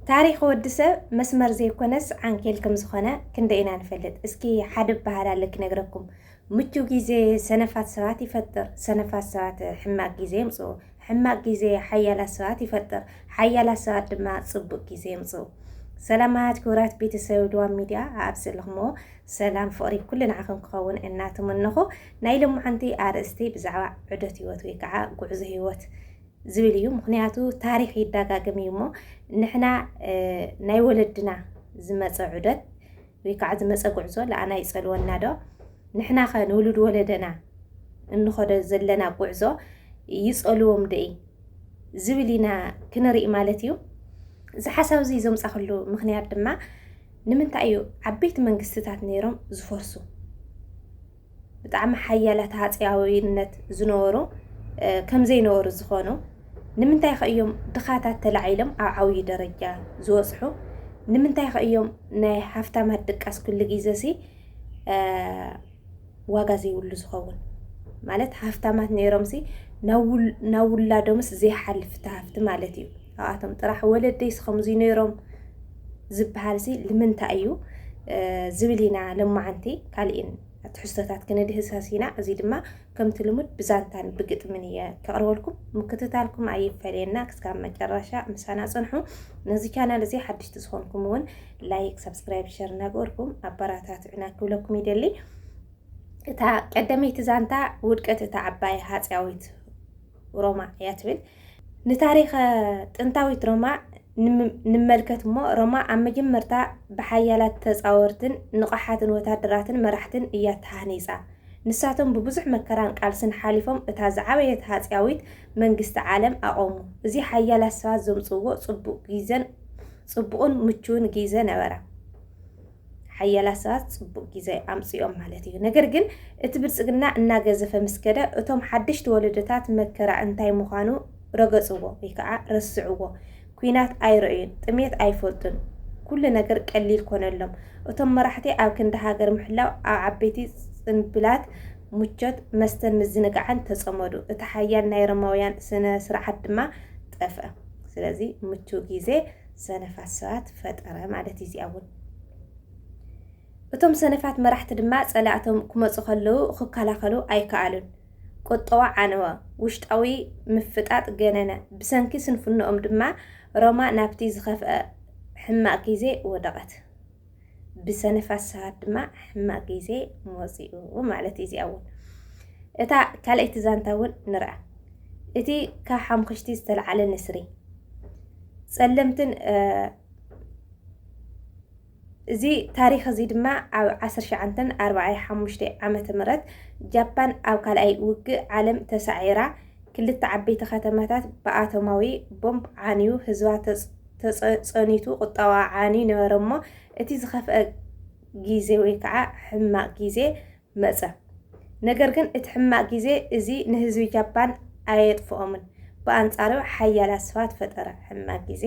ታሪኽ ወዲ ሰብ መስመር ዘይኮነስ ዓንኬል ከም ዝኾነ ክንደይ ኢና ንፈልጥ? እስኪ ሓደ እበሃል ኣለ ክነግረኩም። ምቹው ግዜ ሰነፋት ሰባት ይፈጥር፣ ሰነፋት ሰባት ሕማቅ ግዜ የምጽኡ፣ ሕማቅ ግዜ ሓያላት ሰባት ይፈጥር፣ ሓያላት ሰባት ድማ ጽቡቅ ግዜ የምጽኡ። ሰላማት ክቡራት ቤተሰብ ድዋም ሚድያ ኣብ ዘለኹምዎ ሰላም ፍቕሪ ኩሉ ንዓኹም ክኸውን እናተመነኹ ናይ ሎማዓንቲ ኣርእስቲ ብዛዕባ ዑደት ህይወት ወይ ከዓ ጉዕዞ ህይወት ዝብል እዩ ምክንያቱ ታሪክ ይዳጋግም እዩ እሞ ንሕና ናይ ወለድና ዝመፀ ዑደት ወይ ከዓ ዝመፀ ጉዕዞ ለኣና ይፀልወና ዶ ንሕና ከ ንውሉድ ወለደና እንኸዶ ዘለና ጉዕዞ ይፀልዎም ዶ ዝብል ኢና ክንርኢ ማለት እዩ እዚ ሓሳብ እዚ ዘምፃክሉ ምክንያት ድማ ንምንታይ እዩ ዓበይቲ መንግስትታት ነይሮም ዝፈርሱ ብጣዕሚ ሓያላት ሃጸያዊነት ዝነበሩ ከም ዘይነበሩ ዝኾኑ ንምንታይ ከ እዮም ድኻታት ተላዒሎም ኣብ ዓብዪ ደረጃ ዝበጽሑ? ንምንታይ ከ እዮም ናይ ሃፍታማት ድቃስ ኩሉ ግዜ ሲ ዋጋ ዘይብሉ ዝኸውን? ማለት ሃፍታማት ነይሮም ሲ ናብ ውላዶምስ ዘይሓልፍ ትሃፍቲ ማለት እዩ። ኣብኣቶም ጥራሕ ወለደይስ ከምዚ ነይሮም ዝበሃል'ዚ ልምንታይ እዩ ዝብል ኢና ሎማዓንቲ ካልእን ትሕዝቶታት ክንድህሰስ ኢና። እዚ ድማ ከምቲ ልሙድ ብዛንታን ብግጥምን እየ ከቕርበልኩም። ምክትታልኩም ኣይፈለየና ክስካብ መጨረሻ ምሳና ጽንሑ። ነዚ ቻናል እዚ ሓድሽቲ ዝኾንኩም እውን ላይክ፣ ሰብስክራይብ፣ ሸር እናገበርኩም ኣበራታትዑና ክብለኩም ይደሊ። እታ ቀደመይቲ ዛንታ ውድቀት እታ ዓባይ ሃጽያዊት ሮማ እያ ትብል። ንታሪኸ ጥንታዊት ሮማ ንመልከት እሞ፣ ሮማ ኣብ መጀመርታ ብሓያላት ተጻወርትን ንቐሓትን ወተሃደራትን መራሕትን እያ ተሃኒጻ። ንሳቶም ብብዙሕ መከራን ቃልስን ሓሊፎም እታ ዝዓበየት ሃጺያዊት መንግስቲ ዓለም ኣቖሙ። እዚ ሓያላት ሰባት ዘምጽእዎ ጽቡቕ ጊዘን ጽቡቕን ምቹውን ጊዘ ነበረ። ሓያላት ሰባት ጽቡቅ ጊዘ ኣምጺኦም ማለት እዩ ነገር ግን እቲ ብልጽግና እናገዘፈ ምስ ከደ እቶም ሓደሽቲ ወለዶታት መከራ እንታይ ምዃኑ ረገጽዎ ወይ ከዓ ረስዕዎ ኩናት ኣይረእዩን ጥሜት ኣይፈልጡን ኩሉ ነገር ቀሊል ኮነሎም እቶም መራሕቲ ኣብ ክንዲ ሃገር ምሕላው ኣብ ዓበይቲ ጽንብላት ምቾት መስተን ምዝንጋዕን ተጸመዱ እቲ ሓያል ናይ ሮማውያን ስነ ስርዓት ድማ ጠፍአ ስለዚ ምቹው ጊዜ ሰነፋት ሰባት ፈጠረ ማለት እዩ እዚኣ እውን። እቶም ሰነፋት መራሕቲ ድማ ጸላእቶም ክመጹ ከለዉ ክከላኸሉ ኣይከኣሉን። ቁጠዋ ዓነወ፣ ውሽጣዊ ምፍጣጥ ገነነ፣ ብሰንኪ ስንፍንኦም ድማ ሮማ ናብቲ ዝኸፍኣ ሕማቕ ግዜ ወደቐት። ብሰነፋት ሰባት ድማ ሕማቅ ግዜ መጺኡ ማለት እዩ። እዚኣ እውን እታ ካልኣይቲ ዛንታ እውን ንርኣ። እቲ ካብ ሓምክሽቲ ዝተለዓለ ንስሪ ጸለምትን እዚ ታሪክ እዚ ድማ ኣብ 1945 ዓመተ ምህረት ጃፓን ኣብ ካልኣይ ውግእ ዓለም ተሳዒራ ክልተ ዓበይቲ ከተማታት ብኣቶማዊ ቦምብ ዓንዩ ህዝባ ተጸኒቱ ቁጠባኣ ዓንዩ ነበረ እሞ እቲ ዝኸፍኣ ጊዜ ወይ ከዓ ሕማቕ ጊዜ መጸ። ነገር ግን እቲ ሕማቕ ጊዜ እዚ ንህዝቢ ጃፓን ኣየጥፍኦምን ብኣንጻሩ ሓያላት ሰባት ፈጠረ። ሕማቕ ጊዜ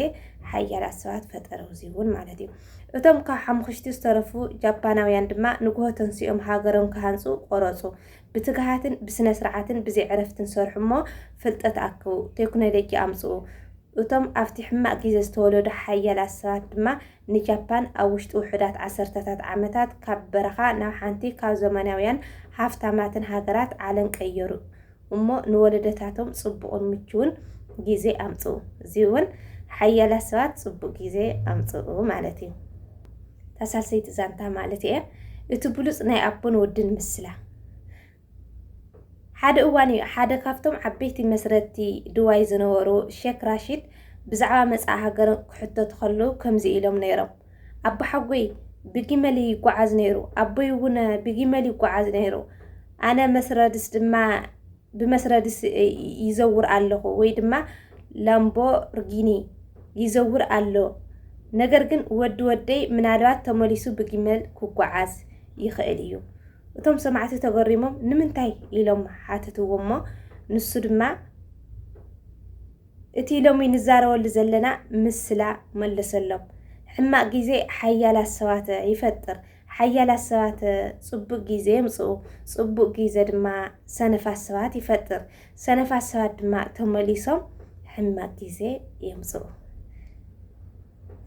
ሓያላት ሰባት ፈጠረ እዚ እውን ማለት እዩ። እቶም ካብ ሓሙኽሽቲ ዝተረፉ ጃፓናውያን ድማ ንግሆ ተንሲኦም ሃገሮም ክሃንጹ ቆረጹ። ብትግሃትን ብስነ ስርዓትን ብዘይዕረፍትን ሰርሑ እሞ ፍልጠት ኣክቡ፣ ቴክኖሎጂ ኣምጽኡ፣ እቶም ኣብቲ ሕማቕ ግዜ ዝተወለዱ ሓያላት ሰባት ድማ ንጃፓን ኣብ ውሽጢ ውሑዳት ዓሰርተታት ዓመታት ካብ በረኻ ናብ ሓንቲ ካብ ዘመናውያን ሃፍታማትን ሃገራት ዓለም ቀየሩ እሞ ንወለዶታቶም ጽቡቕን ምቹውን ግዜ ኣምጽኡ። እዚ እውን ሓያላት ሰባት ጽቡቕ ግዜ ኣምጽኡ ማለት እዩ። እታ ሳልሰይቲ ዛንታ ማለት እየ እቲ ብሉጽ ናይ ኣቦን ወድን ምስላ ሓደ እዋን እዩ ሓደ ካብቶም ዓበይቲ መስረትቲ ድዋይ ዝነበሩ ሸክ ራሺድ ብዛዕባ መጻኢ ሃገር ክሕተቱ ከለዉ ከምዚ ኢሎም ነይሮም፣ ኣቦሓጎይ ብጊመል እዩ ይጎዓዝ ነይሩ፣ ኣቦይ እውን ብጊመል ይጎዓዝ ነይሩ፣ ኣነ መስረድስ ድማ ብመስረድስ ይዘውር ኣለኹ ወይ ድማ ላምቦርጊኒ ይዘውር ኣሎ፣ ነገር ግን ወዲ ወደይ ምናልባት ተመሊሱ ብጊመል ክጎዓዝ ይኽእል እዩ። እቶም ሰማዕቲ ተገሪሞም ንምንታይ ኢሎም ሓተትዎ እሞ ንሱ ድማ እቲ ሎሚ ንዛረበሉ ዘለና ምስላ መለሰሎም። ሕማቅ ግዜ ሓያላት ሰባት ይፈጥር፣ ሓያላት ሰባት ጽቡቅ ግዜ የምጽኡ፣ ጽቡቅ ግዜ ድማ ሰነፋት ሰባት ይፈጥር፣ ሰነፋት ሰባት ድማ ተመሊሶም ሕማቅ ግዜ የምጽኡ።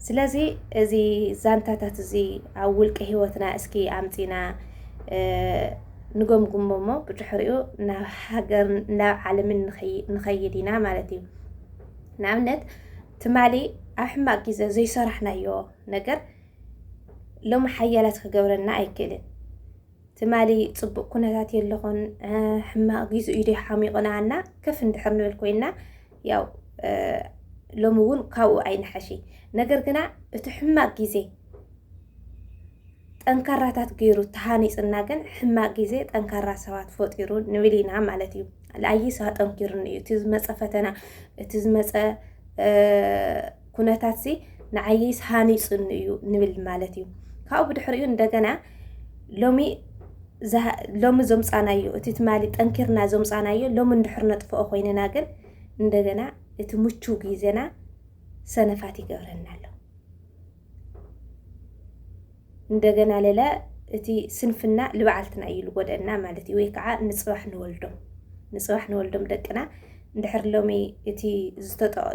ስለዚ እዚ ዛንታታት እዚ ኣብ ውልቀ ህይወትና እስኪ ኣምፂና ንገምግሞ እሞ ብድሕሪኡ ናብ ሃገር ናብ ዓለምን ንኸይድ ኢና ማለት እዩ ንኣብነት ትማሊ ኣብ ሕማቅ ግዜ ዘይሰራሕናዮ ነገር ሎሚ ሓያላት ክገብረና ኣይክእልን ትማሊ ፅቡቅ ኩነታት የለኹን ሕማቅ ጊዙ እዩ ሓሚቑና እና ከፍ እንድሕር ንብል ኮይና ያው ሎሚ እውን ካብኡ ኣይንሓሺ ነገር ግና እቲ ሕማቅ ጊዜ ጠንካራታት ገይሩ ተሃኒፅና ግን ሕማቅ ጊዜ ጠንካራ ሰባት ፈጢሩ ንብል ኢና ማለት እዩ ኣይስ ኣጠንኪሩኒ እዩ እቲ ዝመፀ ፈተና እቲ ዝመፀ ኩነታትሲ ንዓይስ ሃኒፁኒ እዩ ንብል ማለት እዩ ካብኡ ብድሕሪኡ እንደገና ሎሚ ሎሚ ዘምፃናዮ እቲ ትማሊ ጠንኪርና ዘምፃናዮ ሎሚ እንድሕር ነጥፍኦ ኮይንና ግን እንደገና እቲ ምቹው ግዜና ሰነፋት ይገብረና ኣሎ። እንደገና ለለ እቲ ስንፍና ልባዓልትና እዩ ልጎደእና ማለት እዩ ወይ ከዓ ንፅባሕ ንወልዶም ንፅባሕ ንወልዶም ደቅና እንድሕር ሎሚ እቲ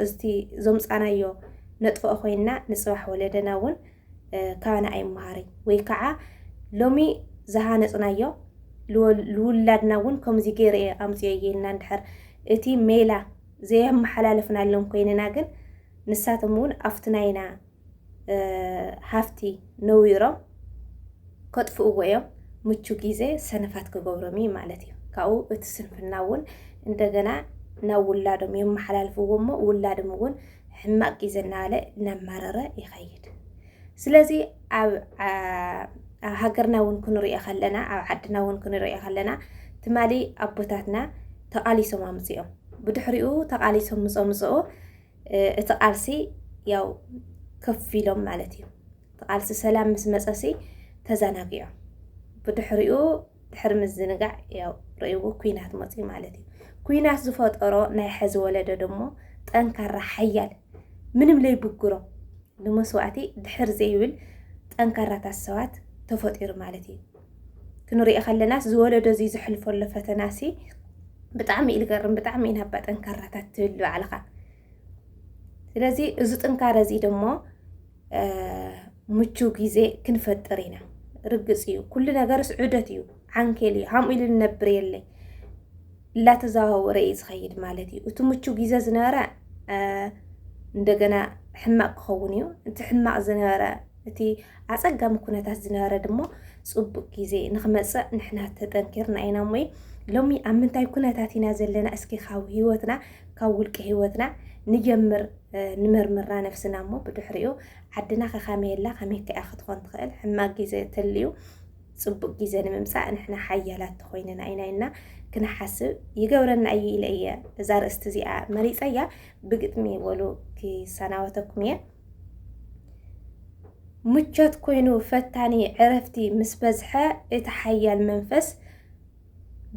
እቲ ዞምፃናዮ ነጥፍኦ ኮይንና ንፅባሕ ወለደና እውን ካባና ኣይመሃሪ ወይ ከዓ ሎሚ ዝሃነፅናዮ ልውላድና እውን ከምዚ ገይረ እየ ኣምፅኦ እየ ኢልና እንድሕር እቲ ሜላ ዘየመሓላለፍናሎም ኮይንና ግን ንሳቶም እውን ኣብቲ ናይና ሃፍቲ ነዊሮም ከጥፍእዎ እዮም። ምቹ ግዜ ሰነፋት ክገብሮም እዩ ማለት እዩ። ካብኡ እቲ ስንፍና እውን እንደገና ናብ ውላዶም የመሓላልፍዎ እሞ ውላዶም እውን ሕማቅ ግዜ እናበለ እናማረረ ይኸይድ። ስለዚ ኣብ ሃገርና እውን ክንሪኦ ከለና ኣብ ዓድና እውን ክንሪኦ ከለና ትማሊ ኣቦታትና ተቓሊሶም ኣምፅኦም ብድሕሪኡ ተቓሊሶም ምፀምፅኡ እቲ ቃልሲ ያው ከፍ ኢሎም ማለት እዩ። እቲ ቃልሲ ሰላም ምስ መፀሲ ተዘናጊዖም ብድሕሪኡ ድሕሪ ምዝንጋዕ ያው ርእይዎ ኩናት መፅዩ ማለት እዩ። ኩናት ዝፈጠሮ ናይ ሐዚ ወለዶ ደሞ ጠንካራ ሓያል ምንም ለይብግሮ ንመስዋእቲ ድሕር ዘይብል ጠንካራታት ሰባት ተፈጢሩ ማለት እዩ። ክንሪኦ ከለናስ ዝወለዶ እዚ ዘሕልፈሎ ፈተናሲ ብጣዕሚ እዩ ዝገርም። ብጣዕሚ ኢና እባ ጠንካራታት ትብል ባዕልኻ። ስለዚ እዚ ጥንካረ እዚ ደሞ ምቹው ግዜ ክንፈጥር ኢና። ርግፅ እዩ ኩሉ ነገርስ ዑደት እዩ፣ ዓንኬል እዩ። ሃምኡ ኢሉ ንነብር የለ እላተዘዋወረ እዩ ዝኸይድ ማለት እዩ። እቲ ምቹው ግዜ ዝነበረ እንደገና ሕማቅ ክኸውን እዩ እቲ ሕማቅ ዝነበረ እቲ ኣፀጋሚ ኩነታት ዝነበረ ድማ ፅቡቅ ግዜ ንክመፅእ ንሕና ተጠንኪርና ኢና እሞ ሎሚ ኣብ ምንታይ ኩነታት ኢና ዘለና እስኪ ካብ ህይወትና ካብ ውልቂ ህይወትና ንጀምር ንመርምራ ነፍስና እሞ ብድሕሪኡ ዓድና ከካመይ ኣላ ከመይ ከኣ ክትኾን ትኽእል ሕማቅ ግዜ ተልዩ ፅቡቅ ግዜ ንምምፃእ ንሕና ሓያላት ተኮይንና ኢና ኢና ክንሓስብ ይገብረና እዩ ኢለ እየ እዛ ርእስቲ እዚኣ መሪፀያ ብግጥሚ ወሉ ክሰናወተኩም እየ ምቾት ኮይኑ ፈታኒ ዕረፍቲ ምስ በዝሐ እቲ ሓያል መንፈስ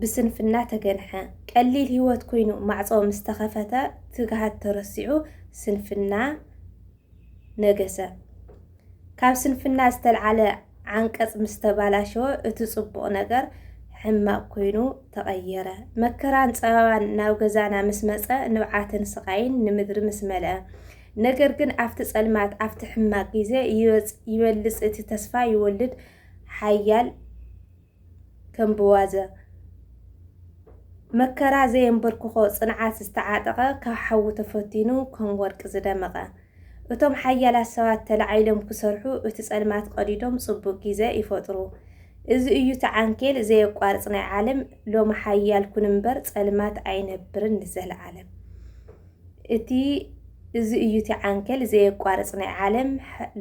ብስንፍና ተገንሐ። ቀሊል ህይወት ኮይኑ ማዕጾ ምስ ተኸፈተ ትግሃት ተረሲዑ ስንፍና ነገሰ። ካብ ስንፍና ዝተልዓለ ዓንቀጽ ምስ ተባላሸወ እቲ ጽቡቕ ነገር ሕማቕ ኮይኑ ተቐየረ። መከራን ጸበባን ናብ ገዛና ምስ መጸ ንብዓትን ስቓይን ንምድሪ ምስ መልአ ነገር ግን ኣብቲ ጸልማት ኣብቲ ሕማቅ ግዜ ይወጽ ይበልጽ እቲ ተስፋ ይወልድ ሓያል ከም ብዋዘ መከራ ዘየንበርክኾ ጽንዓት ዝተዓጠቐ ካብ ሓዊ ተፈቲኑ ከም ወርቂ ዝደመቐ እቶም ሓያላት ሰባት ተላዒሎም ክሰርሑ እቲ ጸልማት ቀዲዶም ጽቡቅ ግዜ ይፈጥሩ እዚ እዩ እቲ ዓንኬል ዘየቋርጽ ናይ ዓለም ሎሚ ሓያል ኩን እምበር ጸልማት ኣይነብርን ንዘለዓለም። እቲ እዚ እዩ እቲ ዓንኬል ዘየቋርጽ ናይ ዓለም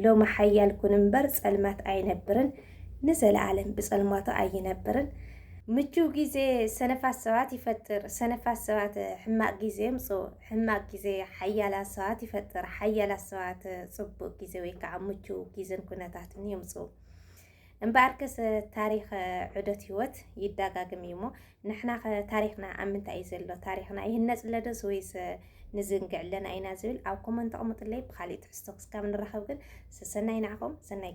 ሎሚ ሓያል ኩን እምበር ጸልማት ኣይነብርን ንዘለኣለም ብጸልማቱ ኣይነብርን። ምቹው ግዜ ሰነፋት ሰባት ይፈጥር፣ ሰነፋት ሰባት ሕማቕ ግዜ የምጽኡ፣ ሕማቕ ግዜ ሓያላት ሰባት ይፈጥር፣ ሓያላት ሰባት ጽቡቕ ግዜ ወይ ከዓ ምቹው ግዜን ኩነታትን የምጽኡ። እምበኣርከስ ታሪኽ ዑደት ህይወት ይዳጋግም እዩ እሞ ንሕና ታሪኽና ኣብ ምንታይ እዩ ዘሎ ታሪኽና ይህነፅ ለደስ ወይስ ንዝንግዕ ኣለና ኢና ዝብል ኣብ ኮመንት ኣቕምጥለይ ብካሊእ ትሕዝቶ ክስካብ ንራኸብ ግን ሰሰናይ ንዓኹም ሰናይ